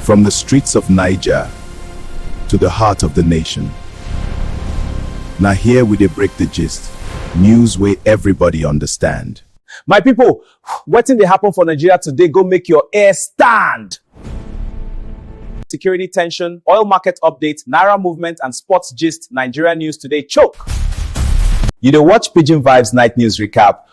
From the streets of Niger to the heart of the nation. Now here we dey break the gist, news wey everybody understand. My people, wetin dey happen for Nigeria today go make your hair stand! Security tension, oil market update, naira movement and sports gist, Nigeria news today choke! You dey watch Pidgin Vibes Night News Recap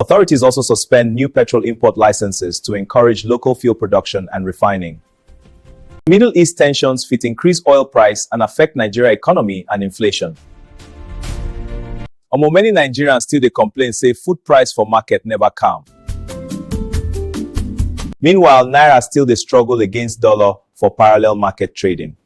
Authorities also suspend new petrol import licenses to encourage local fuel production and refining. Middle East tensions fit increase oil price and affect Nigeria economy and inflation. Omo many Nigerians still dey complain say food price for market never calm. Meanwhile, Naira still dey struggle against dollar for parallel market trading.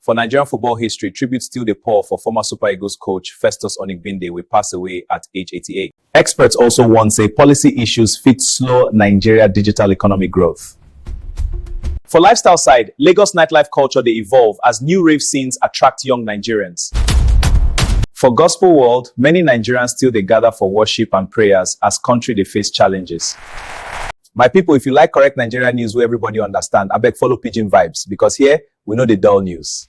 For Nigerian football history, tribute still dey pour for former Super Eagles coach Festus Onigbinde wey pass away at age 88. Experts also warn say policy issues fit slow Nigeria digital economy growth. For lifestyle side, Lagos nightlife culture dey evolve as new rave scenes attract young Nigerians. For gospel world, many Nigerians still dey gather for worship and prayers as country dey face challenges. My people, if you like correct Nigeria news wey everybody understand, abeg follow Pidgin Vibes because here we no dey dull news.